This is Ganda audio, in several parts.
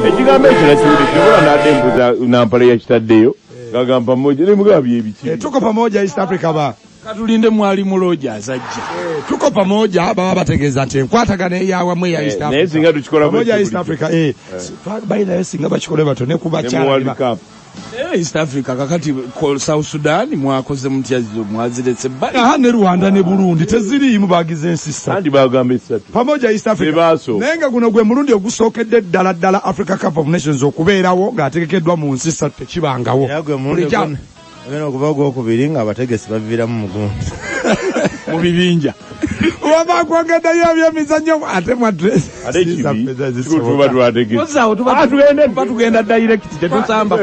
ekigambo ekyo nakiwulidde kyobola nadde mbuza nampala yakitaddeyo gagamba moja ne mugabi ebiki eh, tuko pamoja east africa ba katulinde mwali muloja azajja eh, tuko pamoja baba bategeza nti enkwatagana eyawa mwe ya eh, east africa naye singa tukikola pamoja east africa eh, eh. baina singa bakikole bato ne kubacha Eh, East Africa kakati call South Sudan mwakoze mutya zo mwaziretse bali. Aha ne Rwanda ne Burundi teziriimu bagize ensi ssatu. Kandi bagamba essatu. Pamoja East Africa. Bebaaso. Naye nga guno gwe mulundi ogusookedde ddala ddala Africa Cup of Nations okubeerawo ng'ategekeddwa mu nsi ssatu tekibangawo. Era gwe mulundi Bulijjo- ogw'ono- ogw'ono okuva ogw'okubiri ng'abategesi baviiramu mu gundi. Mu bibinja. waba kwogeddeyo ebyemizannyo ate mwadressbatugenda direct tetusamba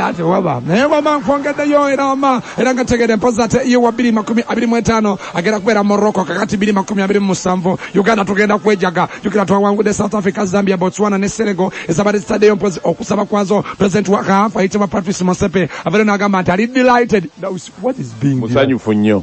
ate waba naye wama nkwongeddeyo era wama era nga tegede mpozi ate iyo wa biri makumi abiri mu etaano agenda kubeera morocco kakati biri makumi abiri mu musanvu uganda tugenda kwejaga jukira twawangudde south africa zambia botswana ne senego ezabadde zitaddeyo mpozi okusaba kwazo president wa kaafa ayitibwa patrice mosepe abeero n'agamba nti ali delighted musanyufu nnyo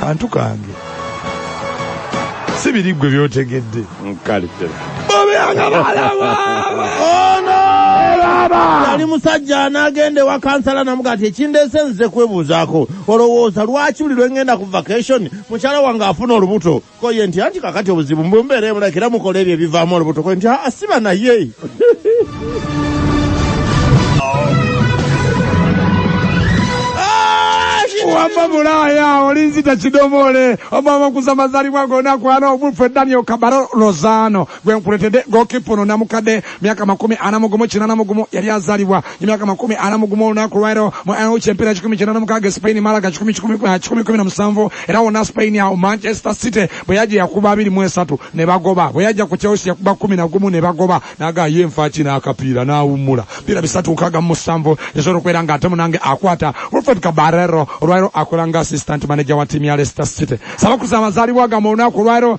kantu kange si biri ggwe byotegedde yali musajja anagenda ewa kansala namuga ati ekindeese nzize kwebuuzaako olowooza lwaki buli lwengenda ku vacation mukyala wange afuna olubuto koye nti anti kakati obuzibu mbumbeera emulaki era mukola ebyo ebivaamu olubuto koye nti aa ah, siba naye wamma bulaaya olinzita kidomoole omama okuza mazalibwa gona kwana obuffe daniel kabaro lozano gwenkuletede gokipa ono namukadde myaka makumi ana mugumu kinana mugumu yali azalibwa emyaka makumi ana mugumu olunaku lwaero mu aoch empira kikumi kinana mukaga spain malaga kikumi kikumi kikumi kumi na musanvu era wona spain awo manchester city bwe yaja yakuba abiri mu esatu ne bagoba bwe yaja ku chelsea yakuba kumi na gumu ne bagoba naga ye nfaki n'akapiira n'awummula piira bisatu nkaga mu musanvu yasobola okubeera nga ate munange akwata wilfred kabarero olwaero akola nga assistant manager wa tiimu ya leicester city sabakusa amazalibwa ga mu lunaku lwaero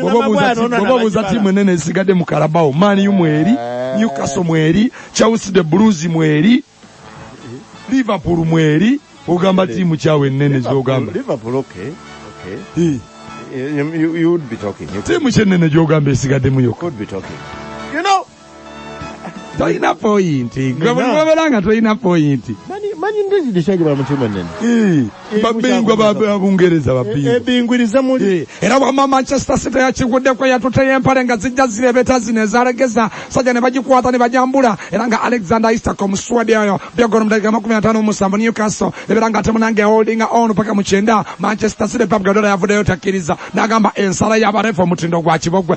bwoba obuuza tiimu enene ezigadde mu kalabawo maniu mweri newcastle mweri chelsea the blues mweri liverpool mweri ogamba tiimu kyawe enene zogamba tiimu kyenene gyogamba esigaddemu yokka tolina poyinti gwe buli wobera nga tolina poyinti manyi ndezi dekyagi bala mutima nene babingwa babungereza babingwiriza muli era wama manchester city yakiguddeko yatuteyo empale nga zijja zirebeta zino ezalegeza sajja ne bagikwata ne bajambula era nga alexander isak omuswadi oyo byagoro mudakiika makumi atano omusanvu newcastle ebera nga temunange holdinga on paka mukyenda manchester city pep gadola yavudeyo takkiriza nagamba ensala yabarefa omutindo gwa kibogwe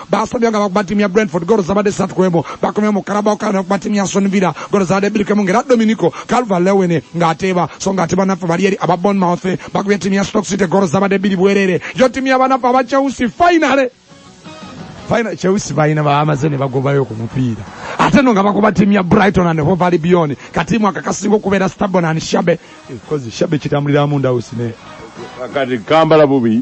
Baasomye nga bakuba ttiimu ya Brentford ggoolo zabadde ssatu ku emu. Bakomyewo mu Carabao Cup ne bakuba ttiimu ya Aston Villa ggoolo zabadde bbiri ku emu ng'era Dominico Calvert-Lewin ng'ateeba so ng'ate banaffe bali eri aba Bournemouth bakubye ttiimu ya Stoke City ggoolo zabadde bbiri bwereere. Yo ttiimu ya banaffe aba Chelsea finally Final Chelsea balina bamaze ne bagobayo ku mupiira ate no nga bakuba ttiimu ya Brighton and Hove Albion katiimu akakasinga okubeera stubborn and shabe kozi shabe kitambulira mu ndawusi ne kati kambala bubi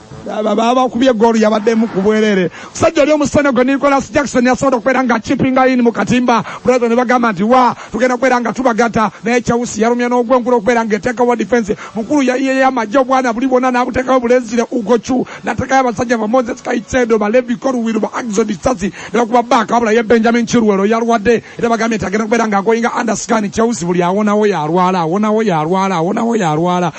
babakubye goolu yabaddemu ku bwerere musajja oli omusana gwe nicolas jackson yasobola okubeera nga chipinga in mu katimba brother ne bagamba nti wa tugenda kubeera nga tubagata naye chausi yalumya n'ogwenkulu okubeera nga eteekawo defense mukulu yayiyeyo amagye obwana buli bwona n'abuteekawo bulenzire ugochu natekayo abasajja ba moses kaitsedo balevi koruwiru ba axon sasi nebakuba baaka wabula ye benjamin kirwero yalwadde era bagambye nti agenda kubeera nga agoyinga underscan chausi buli awonawo yalwala awonawo yalwala awonawo yalwala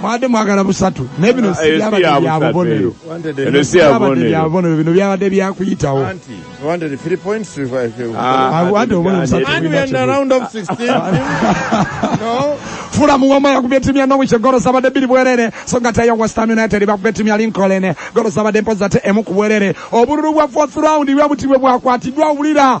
mwabadde mwagala busatu naye bino si byabadde bya bubonero Eno si ya byabadde bubonero. bya bubonero bino byabadde byakuyitawo Anti, you wanted three points to revive you. Ah, I want to win And something. And we are in the round of 16. no. fula muwoma yakubye ttiimu ya norwich golo zabadde bbiri bwerere so nga tayo west ham united bakubye ttiimu ya lincoln golo zabadde mpozi ate emu ku bwerere obululu bwa fourth round bwe buti bwe bwakwatiddwa wulira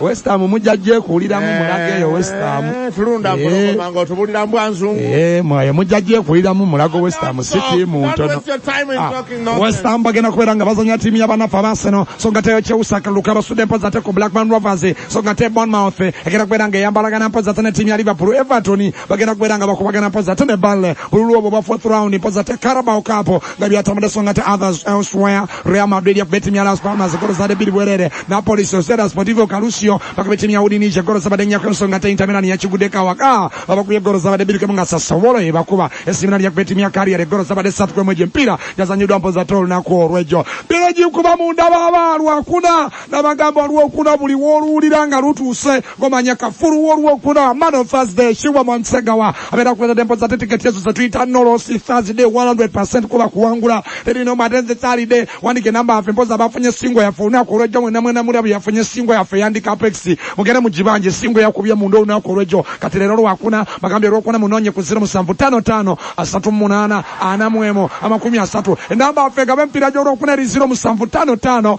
Westam mujja gyekuwuliramu eh, mulago eyo Westam. Eh, tulunda mpologoma eh. ng'otubulira mbwa nzungu. Ee mwaye mujja gyekuwuliramu mulago Westam si tiimu ntono. Ah, Westam bagenda kubeera nga bazannya tiimu y'abanaffe ab'Arsenal so nga teyo kyewusaka luka basudde mpozi ate ku Blackburn Rovers so nga te Bournemouth egenda kubeera nga eyambalagana mpozi ate ne tiimu ya Liverpool Everton bagenda kubeera nga bakubagana mpozi ate ne Burnley bululu obwo bwa fourth round mpozi ate Carabao Cup nga byatambudde so nga te others elsewhere real madrid yakubye ttiimu ya las palmas golo zade bbiri bwerere napoli sociedad sportivo calusio bakubye ttiimu ya udinise golo zabadde nnyako ensonga te intamirani yakiguddeko awaka abakubye golo zabadde bbiri kemu nga sasowolo yebakuba esimirani yakubye ttiimu ya kariyere golo zabadde satu kwemu egyo empiira gyazanyiddwa mpoza te olunaku olwegyo biro gikuba munda baba lwakuna nabagamba olwokuna buli woluwulira nga lutuuse gomanya kafulu wolwokuna man of thursday shiwa mwansegawa abera kuweza dempo za titiketi yesu zetuyita nolosi thursday 100 kuba kuwangula teri no matenze salide wandike namba yafe mpoza abafunye singo yafe olunaku olwejjo mwena mwena muli abo yafunye singo yafe yandika apexi mugende mugibanje singo yakubye munda olunaku olwejjo kati leero lwakuna bagambye olwokuna munonye ku ziro musanvu tano tano asatu munaana ana mwemu amakumi asatu enamba yafe gabe empira gyolwokuna eri ziro musanvu tano tano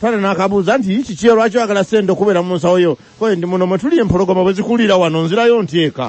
Taata n'akabuuza nti yi kiki lwaki oyagala ssente okubeera mu nsawo yo koye ndi muno mwe tuli empologoma bwe zikulira wano nzirayo nti eka.